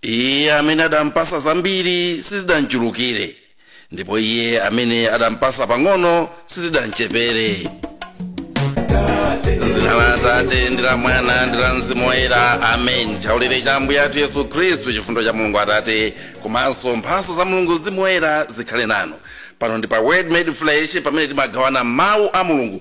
iye amene adampasa zambiri sizidamchulukire ndipo iye amene adampasa pang'ono sizidamchepere zina la atate ndi la mwana ndi la mzimu woyera amen chaulere cha ambuye athu yesu khristu chifundo cha mulungu atate komanso mphaso za mulungu mzimu woyera zikhale nanu pano ndi pa word made flesh pamene timagawana mawu a mulungu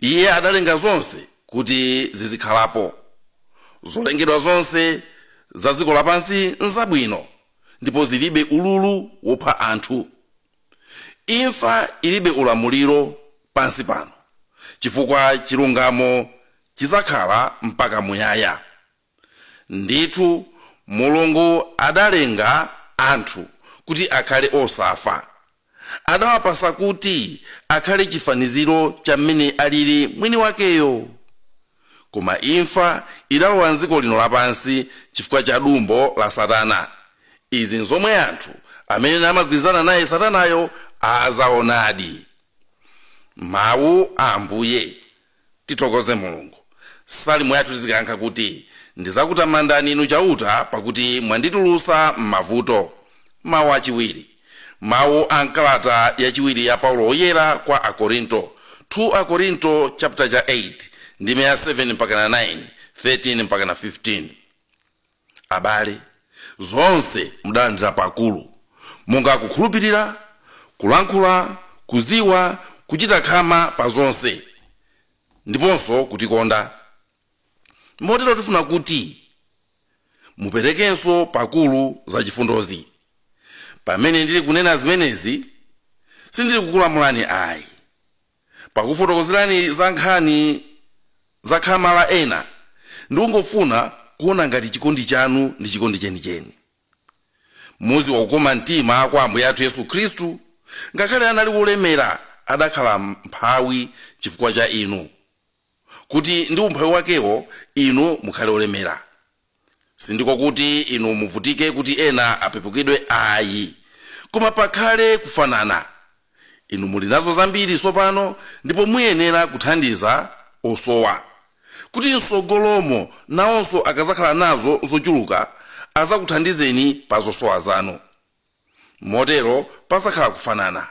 iye adalenga zonse kuti zizikhalapo zolengedwa zonse za dziko lapansi nzabwino ndipo zilibe ululu wopha anthu imfa ilibe ulamuliro pansi pano chifukwa chilungamo chidzakhala mpaka muyaya Ndithu Mulungu adalenga anthu kuti akhale osafa. Adawapasa kuti akhale chifaniziro cha mmene alili mwiniwakeyo. Koma imfa idalowa m'dziko lino lapansi chifukwa cha dumbo la Satana. Izi n'zomwe anthu amene amagwirizana naye Satanayo adzaonadi. Mawu a Ambuye Tithokoze Mulungu. Salimo yathu tizikayankha kuti, Ndizakutamandani Inu Chauta pakuti mwanditulusa m'mavuto. Mau achiwiri. Mau a m'kalata yachiwiri ya Paulo Woyera kwa Akorinto, 2 Akorinto chapter cha 8, ndime ya 7-9, 13-15. Abale, zonse mudalandira pakulu, monga kukhulupirira, kulankhula, kuziwa, kuchita khama pa zonse, ndiponso kutikonda. Motero tifuna kuti muperekenso pakulu zachifundozi. Pamene ndili kunena zimenezi, sindili kukulamulani ayi. Pakufotokozerani za nkhani za khama la ena, ndikungofuna kuona ngati chikondi chanu ndi chikondi chenicheni. Mudziwa kukoma mtima kwa Ambuye athu Yesu Khristu, ngakhale anali wolemera, adakhala mmphawi chifukwa cha inu, kuti ndi umphawi wakewo inu mukhale olemera sindiko kuti inu muvutike kuti ena apepukidwe ayi koma pakhale kufanana inu muli nazo zambiri tsopano ndipo muyenera kuthandiza osowa kuti msogolomo nawonso akazakhala nazo zochuluka azakuthandizeni pa zosowa zanu motero pazakhala kufanana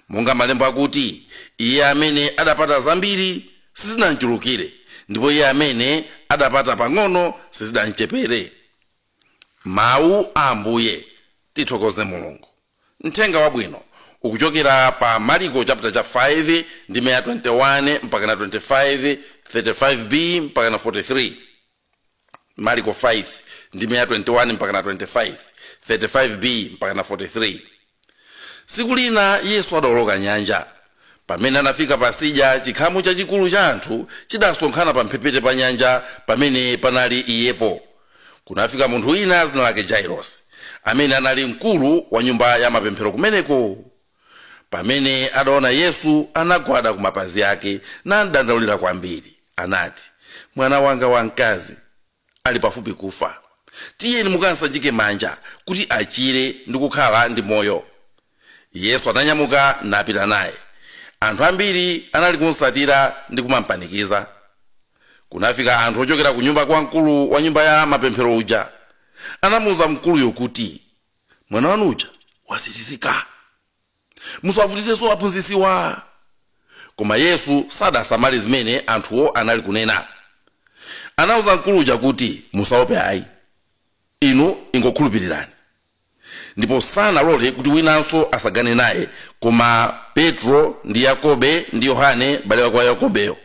Monga Malembo akuti, Iye amene adapata zambiri sizinamchulukire, ndipo iye amene adapata pang'ono sizidamchepere. Mawu a Ambuye. Tithokoze Mulungu. Mthenga Wabwino ukuchokera pa Mariko chapter cha 5 ndime ya 21 mpaka na 25, 35b mpaka na 43. mariko 5 ndime ya 21 mpakana 25 35b mpakana 43 tsiku lina yesu adaoloka nyanja pamene anafika pasidya chikhamu chachikulu cha anthu chidasonkhana pamphepete pa nyanja pamene panali iyepo kunafika munthu wina dzina lake jairosi amene anali mkulu wa nyumba ya mapemphero kumeneko pamene adaona yesu anagwada ku mapazi ake namdandaulira kwambiri anati mwana wanga wamkazi ali pafupi kufa tiyeni mukamsanjike manja kuti achire ndi kukhala ndi moyo yesu ananyamuka napita naye anthu ambiri anali kumsatira ndi kumampanikiza kunafika anthu ochokera ku nyumba kwa mkulu wa nyumba ya mapemphero uja anamuwuza mkuluyo kuti mwana wanu uja watsirizika musawavutisenso aphunzitsiwa koma yesu sadasamale zimene anthuwo anali kunena anauza mkulu uja kuti musaope ayi inu ingokhulupirirani ndipo sanalole kuti winanso atsagane naye koma petro ndi yakobe ndi yohane m'bale wake wa yakobeyo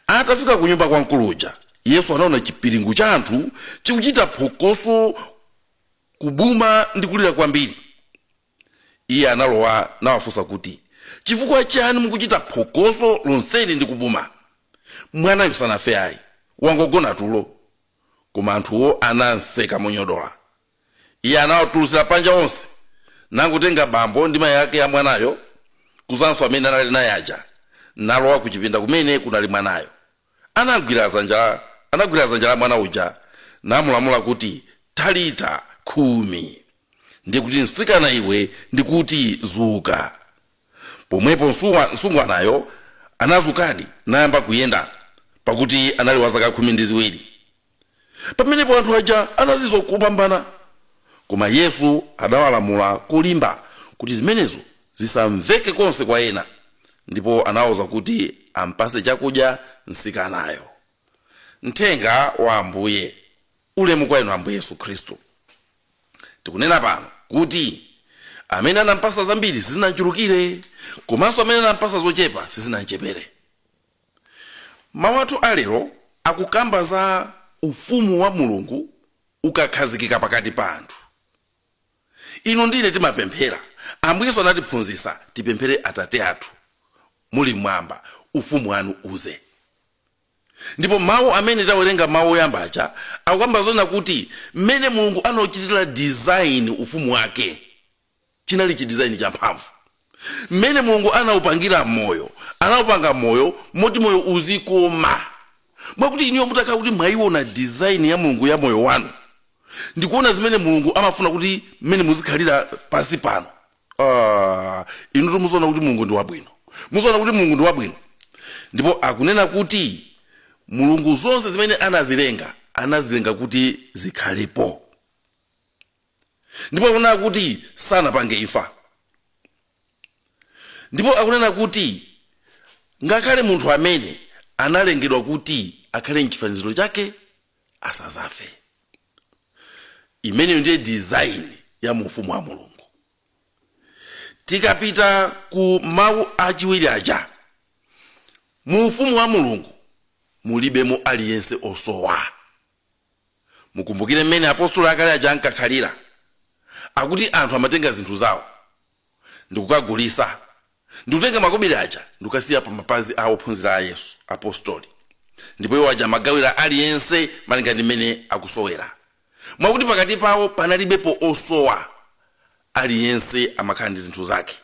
atafika ku nyumba kwa mkulu uja yesu anaona chipiringu cha anthu chikuchita phokoso kubuma ndi kulira kwambiri iye analowa nawafunsa kuti chifukwa chani mukuchita phokoso lonseli ndi kubuma mwanayo sanafe ayi wangogona tulo koma anthuwo anamseka monyodola iye anawatulutsira panja onse nangotenga bambo ndi mayi ake a mwanayo kudzanso amene anali naye aja nalowa kuchipinda kumene kunali mwanayo anagwira dzanja la anagwira dzanja la mwana uja namulamula kuti talita kumi ndiye kuti mtsikana iwe ndikuti dzuka pomwepo msungwa- msungwanayo anadzukadi nayamba kuyenda pakuti anali wa zaka khumi ndi ziwiri pamenepo anthu aja anazizwa kopambana koma yesu adawalamula kolimba kuti zimenezo zisamveke konse kwa ena ndipo anawauza kuti ampatse chakudya mtsikanayo mthenga wa ambuye ulemu kwa inu ambuye yesu khristu tikunena pano kuti amene anampatsa zambiri sizinamchulukire komanso amene anampatsa zochepa sizinamchepere Mawu athu a lero akukamba za Ufumu wa Mulungu ukakhazikika pakati pa anthu. Inu ndi ine timapemphera. Ambuye Yesu anatiphunzitsa tipemphere Atate athu muli m'mwamba, Ufumu wanu udze. Ndipo mawu amene tawerenga mawu oyamba aja akukamba zoona kuti mmene Mulungu anauchitira design Ufumu wake chinali chidizaini champhamvu mmene mulungu anaupangira moyo anaupanga moyo moti moyo uzikoma mwakuti inuyo mutakhala kuti mwayiona dizaini ya mulungu ya moyo wanu ndikuona zimene mulungu amafuna kuti mmene muzikhalira pansi pano Ah, inutu muziona kuti mulungu ndi wabwino muziona kuti mulungu ndi wabwino ndipo akunena kuti mulungu zonse zimene anazilenga anazilenga kuti zikhalepo ndipo akunena kuti sanapange imfa ndipo akunena kuti ngakhale munthu amene analengedwa kuti akhale mchifaniziro chake asazafe imeneyo ndiye design ya mu ufumu wa mulungu tikapita ku mawu achiwiri aja mu ufumu wa mulungu mulibemo aliyense osowa Mukumbukire mmene apostoli akale aja ankakhalira. Akuti anthu amatenga zinthu zawo ndikukagulisa ndikutenga makobiri aja ndikukasiya pa mapazi a ophunzira a Yesu, apostoli, ndipo iwo aja amagawira aliyense malinga ndi mmene akusowera. Mwakuti pakati pawo panalibepo osowa. Aliyense amakhala ndi zinthu zake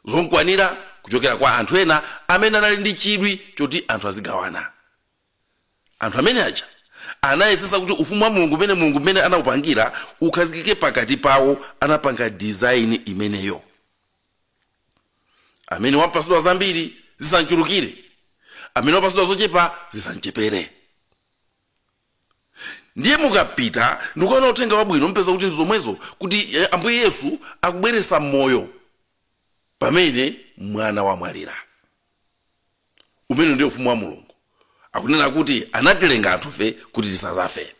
zomkwanira kuchokera kwa anthu ena amene anali ndi chidwi choti anthu azigawana. anthu amene aja anayesesa kuti ufumu wa mulungu umene mulungu mmene anaupangira ukhazikike pakati pawo anapanga design imeneyo amene wapasidwa zambiri zisamchulukire amene wapasidwa zochepa zisamchepere ndiye mukapita ndikuona uthenga wabwino mpeza kuti ndizomwezo kuti eh, ambuye yesu akubweresa moyo pamene mwana wamwalira umene ndiye ufumu wa mulungu akunena kuti anatilenga anthufe kuti tisazafe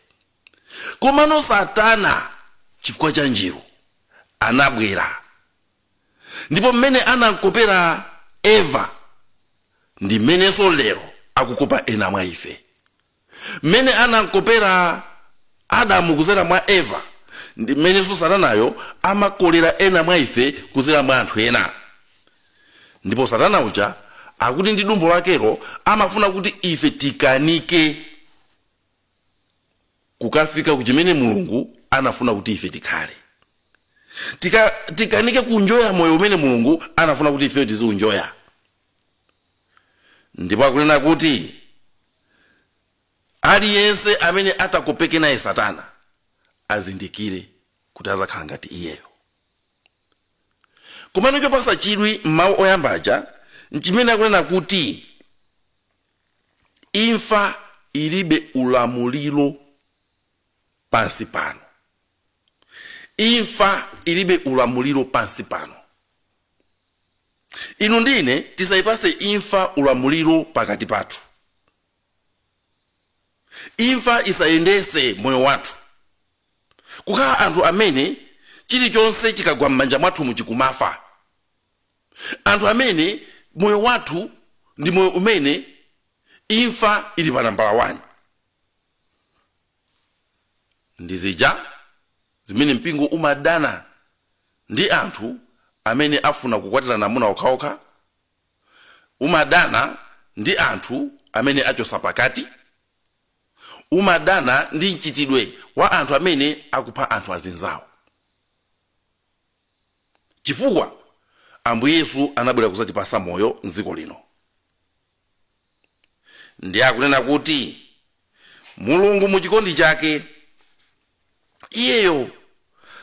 komano satana chifukwa cha njiru anabwera ndipo mmene anamkopera eva ndi mmenenso lero akukopa ena mwa ife Mmene anamkopera Adamu kuzera mwa Eva, ndi mmenenso Satanayo amakolera ena mwa ife kuzera mwa anthu ena. Ndipo Satana uja akuti ndi dumbo lakelo amafuna kuti ife tikanike kukafika ku chimene Mulungu anafuna kuti ife tikhale. Tikanike kunjoya moyo umene Mulungu anafuna kuti ifeyo tiziunjoya. ndipo akunena kuti aliyense amene atakopeke naye satana azindikire kuti azakhala ngati iyeyo komano chopasa chidwi m'mawu oyamba aja nchimene akunena kuti imfa ilibe ulamuliro pansi pano imfa ilibe ulamuliro pansi pano inu ndi ine tisayipase imfa ulamuliro pakati pathu imfa isayendese moyo wathu kukhala anthu amene chilichonse chikagwa m'manja mwathu muchikumafa anthu amene moyo wathu ndi moyo umene imfa ili pa nambala 1 ndi zija zimene mpingo umadana ndi anthu amene afuna kukwatirana amuna okhaokha umadana ndi anthu amene achosa pakati umadana ndi mchitidwe wa anthu amene akupha anthu azinzawo chifukwa ambuye yesu anabwera kuzatipasa moyo mdziko lino ndi akunena kuti mulungu mu chikondi chake iyeyo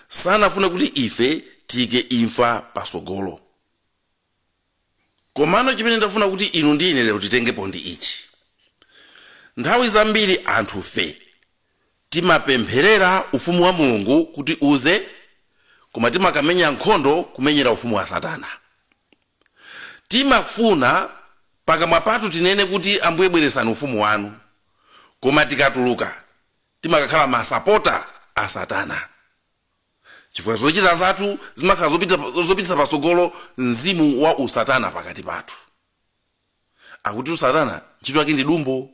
sanafune kuti ife tiyike imfa pasogolo komano chimene ndafuna kuti inu ndi ine lero titengepo ndi ichi nthawi zambiri anthufe Timapempherera Ufumu wa Mulungu kuti uze koma timakamenya nkhondo kumenyera ufumu wa Satana. Timafuna pakamwa pathu tinene kuti Ambuye bweresani ufumu wanu koma tikatuluka timakakhala masapota a Satana chifukwa zochita zathu zimakhala zopitisa patsogolo mzimu wa usatana pakati pathu. akutitu satana ntchito yake ndi dumbo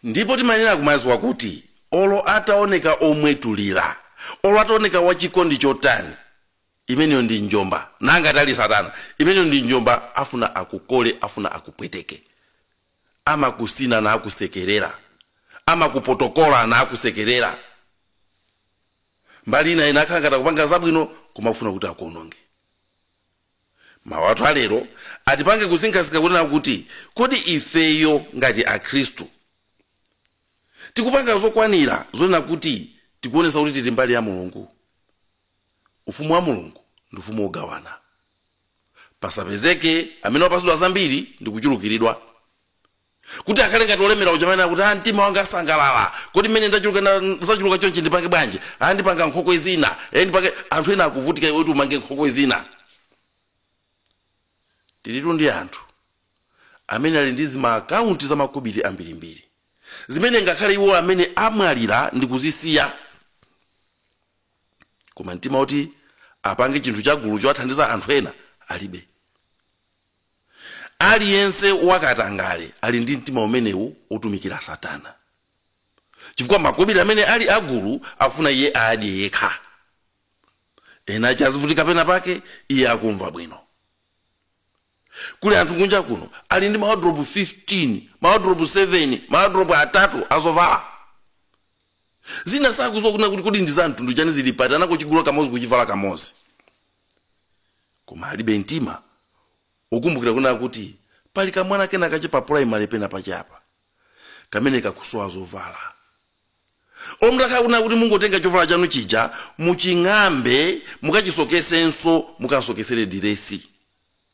ndipo timanena kumaziwa kuti olo ataoneka omwetulira olo ataoneka wachikondi chotani imeneyo ndi njomba nanga tali satana imeneyo ndi njomba afuna akukole afuna akupweteke amakusina na akusekerera amakupotokola na akusekerera mbali ina ina akhala ngati akupanga zabwino koma akufuna kuti akuononge Mawu athu a lero atipange kusinkhasinkha kunena kuti, kodi ifeyo ngati Akhristu tikupanga zokwanira zonena kuti tikuonesa kuti tili mbali ya Mulungu? Ufumu wa Mulungu ndi ufumu wogawana. Pasapezeke amene wapasidwa zambiri ndi kuchulukiridwa. Kuti akhale ngati wolemera uja amene akuti, ah, mtima wanga sangalala. Kodi mmene ndachuluka na- zachuluka chonchi ndipange bwanji? Ah, ndipanga nkhokwe zina. Eh, ndipange anthu ena akuvutika iwe kuti umange nkhokwe zina. Tilitu ndi anthu amene ali ndi zimaakaunti za makobiri ambirimbiri zimene ngakhale iwo amene amwalira ndi kuzisiya koma mtima woti apange chinthu chagulu chowathandiza anthu ena alibe aliyense wakatangale ali ndi mtima umenewu otumikira satana chifukwa makobiri amene ali agulu afuna iye adye yekha ena aja azivutika pena pake iye akumva bwino kuli anthu kunja kuno ali ndi mawadropu 15 mawadropu 7 mawadropu atatu azovala zina sakuziwa kunena kuti kodi ndi za mtundu chani zili pati anangochigula kamozi kuchivala kamozi koma alibe mtima wokumbukira kunena kuti pali kamwana kena kache pa primary pena pake apa kamene kakusowa zovala mutakhala kunena kuti mungotenga chovala chanu chija muching'ambe mukachisokesenso mukasokesere diresi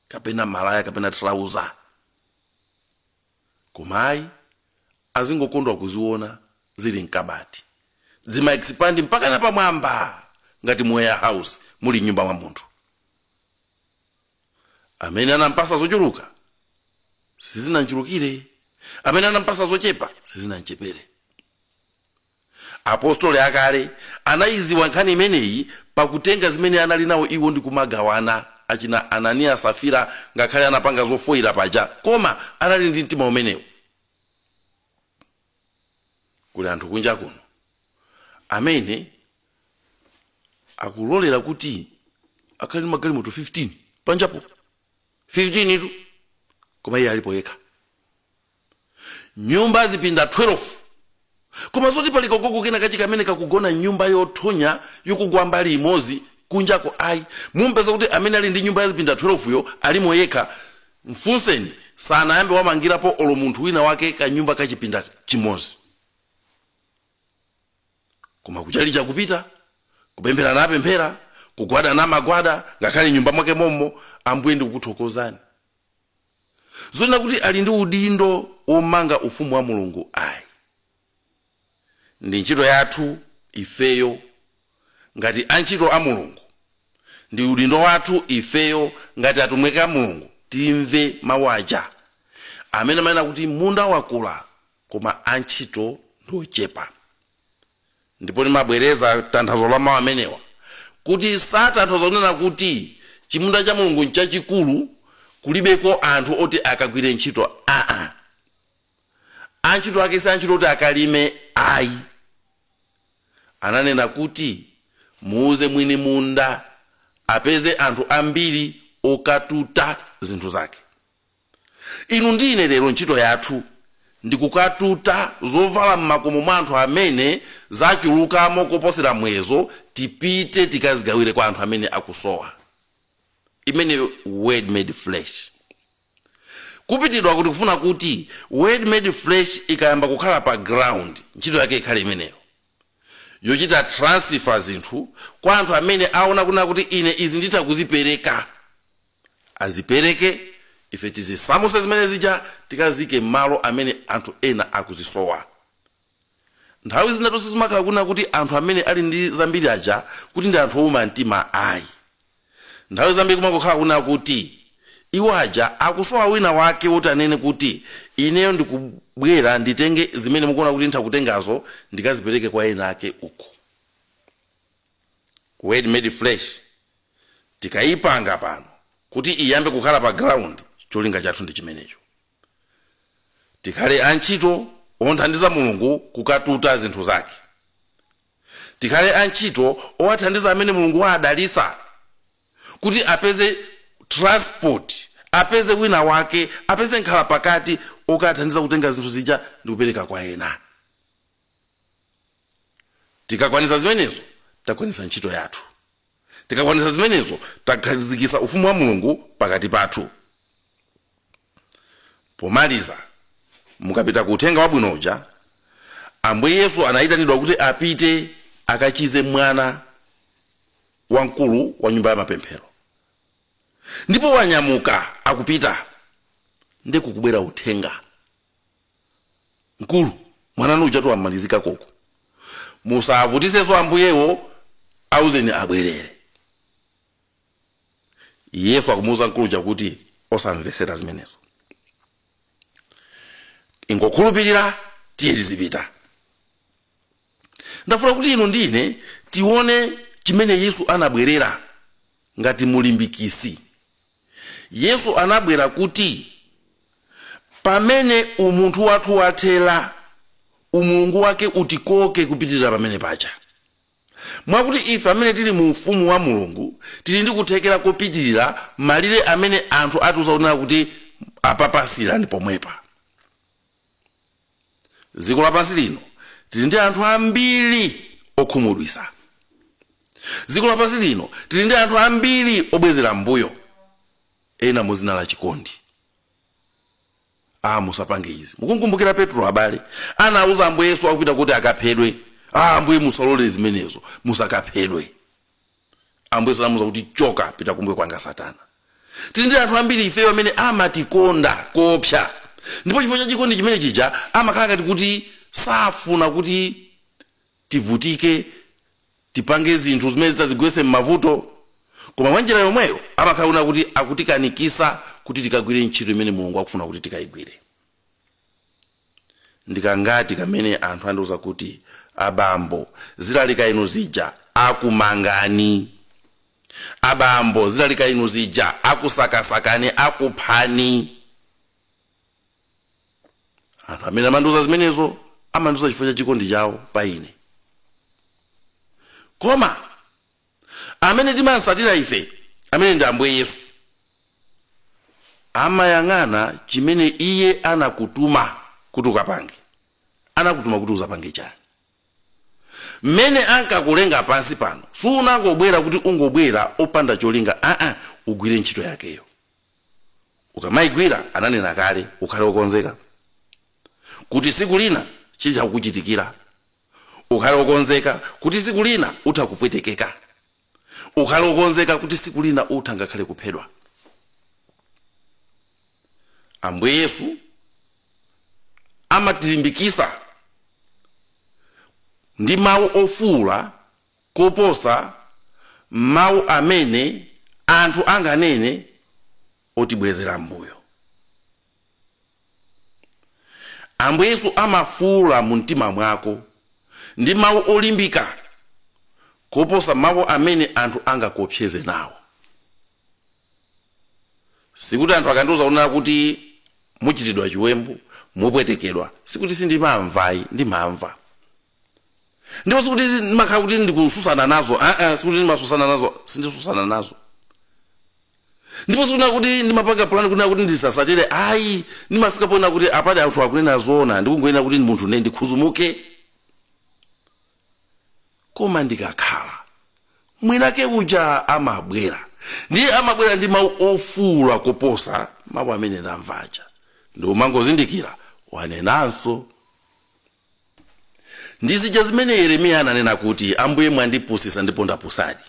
kapena malaya kapena trauza koma ayi azingokondwa kuziona zili mkabati zima expand mpaka napamwamba ngati mu warehouse muli m'nyumba mwa munthu amene anampasa zochuluka sizinamchulukire amene anampasa zochepa sizinamchepere Apostoli akale anaiziwa nkhani imeneyi pakutenga zimene anali nao iwo ndi kumagawana. Achina Ananiya Safira ngakhale anapanga zofoira paja koma anali ndi mtima umenewu. Kuli anthu kunja kuno amene akulolera kuti akhale ndi magalimoto 15 panjapo 15 tu koma iye alipo yekha. nyumba zipinda 12 koma zoti pali kagogo kena kachi kamene kakugona nyumba yothonya yakugwa mbali imodzi kunjako ayi mumpeza kuti amene ali ndi nyumba ya zipinda 12 yo alimo yekha mfunseni sanayambe wamangirapo olo munthu wina wake kanyumba kachipinda chimodzi koma kuchalicha kupita kupemphera amapemphera kugwada amagwada ngakhale m'nyumba mwake mommo ambuye ndikukuthokozani zonena kuti ali ndi udindo womanga ufumu wa mulungu ayi ndi ntchito yathu ifeyo ngati antchito a mulungu ndi udindo wathu ifeyo ngati atumiki a mulungu timve mawu aja amene amanena kuti munda wakula koma antchito ndi ochepa ndipo ndimabwereza tanthauzo la mawu amenewa kuti satanthauza kunena kuti chimunda cha mulungu nchachikulu kulibeko anthu oti akagwire ntchito antchito ake si antchito oti akalime ayi ananena kuti muuze mwini munda apeze anthu ambiri okatuta zinthu zake Inu ndi ine lero ntchito yathu ndi kukatuta zovala m'makomo mwa anthu amene zachulukamo koposera muyezo tipite tikazigawire kwa anthu amene akusowa. Imeneyo Word Made Flesh. Kupitidwa kuti tikufuna kuti Word Made Flesh ikayamba kukhala pa ground, ntchito yake ikhale imeneyo, yochita transfer zinthu kwa anthu amene aona kunena kuti ine izi nditha kuzipereka. azipereke ife tizisamuse zimene zija tikaziike mmalo amene anthu ena akuzisowa nthawi zinatu sizimakhala kuna kuti anthu amene ali ndi zambiri aja kuti ndi anthu owuma mtima ayi nthawi zambiri kumangokhala kuna kuti iwo aja akusowa wina wake woti anene kuti ineyo ndikubwera nditenge zimene mukuona kuti nditha kutengazo ndikazipereke kwa ena ake uko Word Made Flesh, tikaipanga pano kuti iyambe kukhala pa ground, cholinga chathu ndi chimenecho. Tikhale antchito omthandiza Mulungu kukatuta zinthu zake. Tikhale antchito owathandiza amene Mulungu waadalitsa kuti apeze transport, apeze wina wake, apeze nkhalapakati okathandiza kutenga zinthu zija ndi kupereka kwa ena. tikakwanitsa zimenezo takwanitsa ntchito yathu tikakwanitsa zimenezo takhazikitsa ufumu wa mulungu pakati pathu pomaliza mukapita ku uthenga wabwino uja ambuye yesu anayitanidwa kuti apite akachize mwana wamkulu wa nyumba ya mapemphero ndipo wanyamuka akupita nde kukubwera uthenga mkulu mwana wanu ujatu wamalizika koko musavutiseso ambuyewo auzeni abwerere yesu akumuuza mkulu uja kuti osamvesera zimenezo ingokhulupirira tiye tizipita ndafuna kuti inu ndine tione chimene yesu anabwerera ngati mulimbikisi Yesu anabwera kuti pamene umunthu wathu wathera, umulungu wake utikoke kupitirira pamene paja. Mwakuti ife amene tili mu ufumu wa Mulungu tili ndi kuthekera kopitirira malire amene anthu atiuza kunena kuti apapa siyirani pomwepa. dziko lapansi lino tili ndi anthu ambiri okhumudwitsa dziko lapansi lino tili ndi anthu ambiri obwezera mbuyo ena muzina la chikondi ah musapange izi mukumkumbukira petro abale anauza ambuye yesu akupita kuti akaphedwe ah ambuye musalole zimenezo musakaphedwe ambuye yesu anamuuza kuti choka pita kumbuyo kwanga satana tili ndi anthu ambiri ifeyo amene amatikonda koopsa ndipo chifukwa cha chikondi chimene chija amakhala ngati kuti safuna kuti tivutike tipange zinthu zimene zitadzigwetse m'mavuto koma mwa njira yomweyo amakhala kunena kuti akutikanikisa kuti tikagwire ntchito imene mulungu akufuna kuti tikayigwire Ndikangati kamene anthu andiuza kuti abambo zilalika inu zija akumangani? Abambo zilalika inu zija akusakasakani akuphani? Anthu amene amandiuza zimenezo amandiuza chifukwa cha chikondi chawo pa ine. Koma amene timamsatira ife, amene ndi Ambuye Yesu, amayang'ana chimene iye anakutuma kuti ukapange. Anakutuma kuti uzapange chani? Mmene ankakulenga pansi pano, sunangobwera kuti ungobwera opanda cholinga aa, ugwire ntchito yakeyo. Ukamaigwira, ananena kale, ukhale okonzeka kuti tsiku lina chilichonse kukuchitikira. ukhale okonzeka kuti siku lina utha kupwetekeka ukhale okonzeka kuti siku lina utha ngakhale kuphedwa ambuye yesu amatilimbikisa ndi mawu ofuula kuposa mawu amene anthu anganene otibwezera mbuyo Ambuye Yesu amafuula mu mtima mwako ndi mawu olimbika koposa mawu amene anthu angakuopseze nawo. Sikuti anthu akandiuza kunena kuti muchitidwa chiwembu, mupwetekedwa, sikuti sindimamvayi, ndimamva. ndipo sikuti ndimakhala kuti ndikususana nazo aa sikuti ndimasusana nazo sindisusana nazo ndipo sikunena kuti ndimapanga plan kunena kuti ndisasatire ayi ndimafika poona kuti apadi anthu akunena zoona ndikungoyenera kuti munthune ndikhuzumuke koma ndikakhala mwinake uja amabwera ndiye amabwera ndi mawu ofuula koposa mawu amene ndamva aja ndiye umangozindikira wanenanso Ndi zija zimene Yeremiya ananena kuti, Ambuye mwandipusitsa ndipo ndapusadi.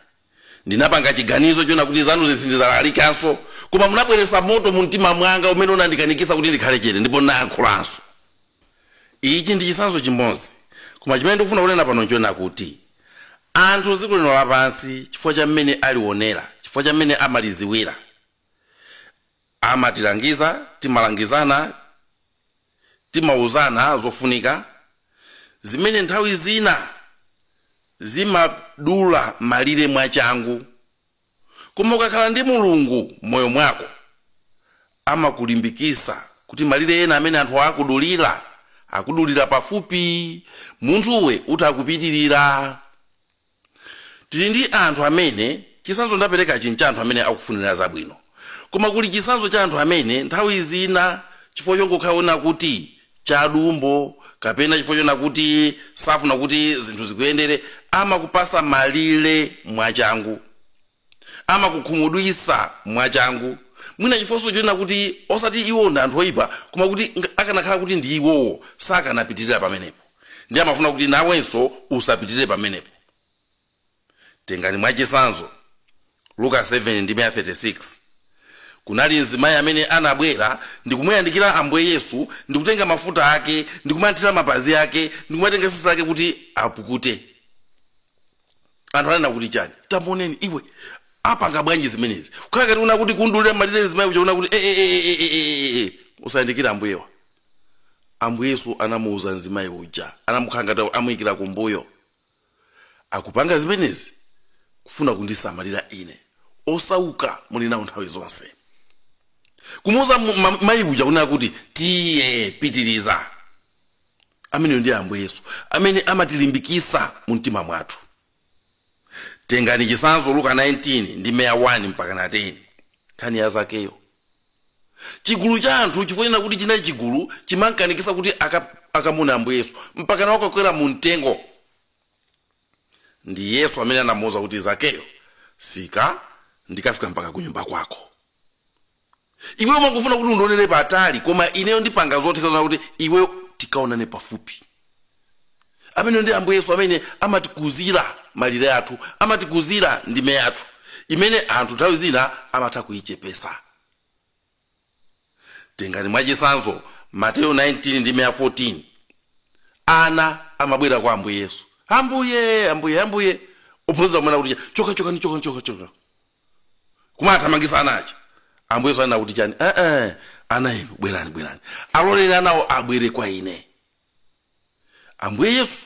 Ndinapanga chiganizo chonena kuti zanuzi sindizalalikanso, koma munabweretsa moto mu mtima mwanga umene unandikanikitsa kuti ndikhale chete ndipo ndinayankhulanso. Ichi ndi chitsanzo chimodzi, koma chimene ndikufuna kunena pano nchonena kuti anthu m'dziko lino lapansi chifukwa cha mmene aliwonera, chifukwa cha mmene amalidziwira, amatilangiza, timalangizana, timauzana zofunika zimene nthawi zina zimadula malire mwachangu koma ukakhala ndi mulungu moyo mwako amakulimbikisa kuti malire ena amene anthu akudulira akudulira pafupi munthuwe uthe kupitirira Tili ndi anthu amene chitsanzo ndaperekachi n'cha anthu amene akufunira zabwino. Koma kuli chitsanzo cha anthu amene nthawi zina chifukwa chongokhala onena kuti chadumbo kapena chifukwa chonena kuti safuna kuti zinthu zikuyendere, amakupatsa malire mwachangu. amakukhumudwitsa mwachangu, mwina chifukwa chonena kuti osati iwo ndi anthu oipa, koma kuti akanakhala kuti ndi iwowo sakanapitirira pamenepo, ndiye amafuna kuti nawenso usapitirire pamenepo. Tengani mwachitsanzo Luka 7 ndime ya 36. Kunali mzimayi amene anabwera ndikumuyandikira Ambuye Yesu ndikutenga mafuta ake ndikumathira mapazi ake ndikumatenga tsitsi lake kuti apukute. anthu anena kuti chani tamuoneni iwe apanga bwanji zimenezi kukhala ngati kunena kuti kumdulira malire mzimayi uja kunena kuti "Eh, eh, eh, eh, eh, eh, eh." usayandikire ambuyewa ambuye yesu anamuuza mzimayi uja anamukhala ngati amuyikira kumbuyo akupanga zimenezi kufuna kundisamalira ine osauka muli nawo nthawi zonse kumuuza mu- ma- mayi uja kunena kuti tiye pitiriza ameneyo ndi ambuye yesu amene amatilimbikisa mu mtima mwathu tengani chisanzo luka 19 ndime ya 1 mpakana 10 nkhani ya zakeyo chigulu cha anthu chifukwa kuti chinali chigulu chimankanikisa kuti aka- akamuone ambuye yesu mpakana wakakwera mu mtengo ndi yesu amene anamuwuza kuti zakeyo sika ndikafika mpaka kunyumba kwako iwe umangofuna kuti undionere patali koma ineyo ndipanga zotheka zonena kuti iweyo tikaonane pafupi ameneyo ndi ambuye yesu amene amatikuzira malire athu amatikuzira ndime yathu imene anthu nthawi zina amatha kuyichepesa tengani mwachisanzo mateyo 19 ndime ya 14 ana amabwera kwa ambuye yesu ambuye ambuye ambuye ophunzira kumanena kuti choka chokani choka choka choka kumathamangisa ana aja ambuye yesu anena kuti chani eh, eh, ana inu bwerani bwerani aloleni anawo abwere kwa ine ambuye yesu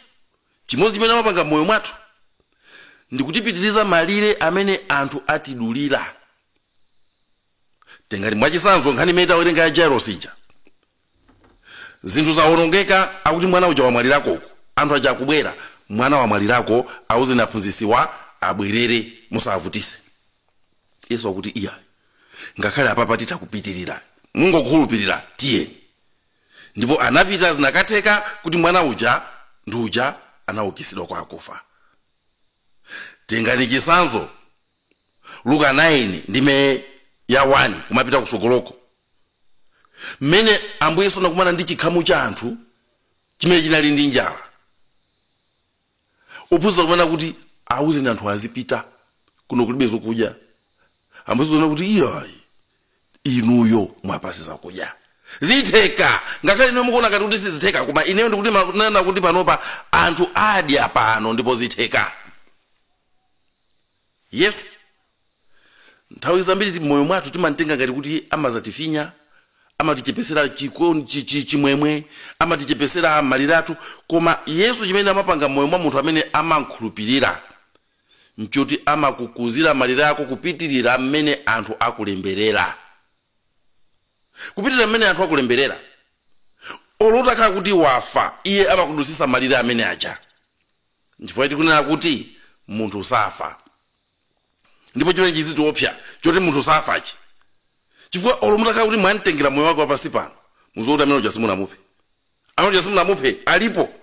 chimodzi chimene amapanga mmoyo mwathu ndikutipitiriza malire amene anthu atidulira tengati mwachisanzo nkhani imene tawerenga ya jairos ija zinthu zawonongeka akuti mwana uja wamwalirako uku anthu aja akubwera mwana wamwalirako awuzeni aphunzisiwa abwerere musawavutise yesu akuti iyayi ngakhale apapa titha kupitirira mungokhulupirira tiyeni ndipo anapita zinakatheka kuti mwana uja ndi uja anaukisidwa kwa akufa tengani chisanzo luka 9 ndime ya 1 kumapita kusogoloko mmene ambuye yesu anakumana ndi chikhamu cha anthu chimene chinali ndi njala ophunzira kumanena kuti awuzeni anthu azipita kuno kulibe zokudya ambuye yesu anakuti iyayi inuyo muwapatse zakudya zitheka ngakhale inuyo mukuona ngati kuti sizitheka koma ineyo ndikutsimikiza kuti panopa anthu adya pano ndipo zitheka yesu nthawi zambiri ti- mmoyo mwathu timamtenga ngati kuti amazatifinya amatichepesera chikon- chi- chi- chimwemwe amatichepesera malire athu koma yesu chimene amapanga mmoyo mwa munthu amene amamkhulupirira nchoti amakukuzira malire ako kupitirira mmene anthu akulemberera kupitirira mmene anthu akulemberera olo utakhala kuti wafa iye amakudusisa malire amene aja nchifukwa tikunena kuti munthu safa ndipo chimene chizitiopsya choti munthu safachi chifukwa olo mutakhala kuti mwamtengera moyo wake wapansi pano muziwa kuti amene uja simunamuphe amene uja simunamuphe alipo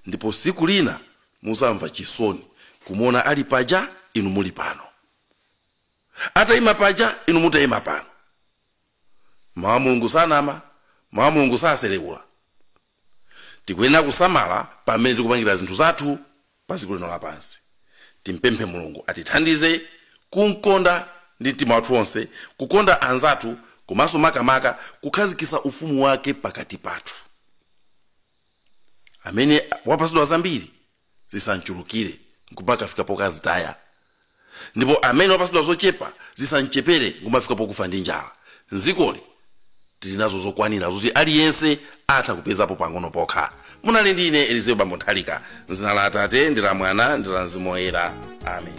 ndipo siku lina muzamva chisoni kumuona ali paja inu muli pano atayima paja inu mutayima pano Mawu a Mulungu sanama, Mawu a Mulungu sasereula. Tikuyenera kusamala pa m'mene tikupangira zinthu zathu pa dziko lino lapansi. Timpemphe Mulungu atithandize kumkonda ndi mtima wathu onse, kukonda anzathu komanso makamaka kukhazikitsa ufumu wake pakati pathu. Amene wapatsidwa zambiri zisamchulukire nkumakafika pokazitaya ndipo amene wapatsidwa zochepa zisamchepere nkumafika pokufa ndi njala mzikoli tili nazo zokwanira zoti aliyense atha kupezapo pang'ono pokha munali ndi ine elizeo bambo nthalika mzina la atate ndi la mwana ndi la mzimu woyera amen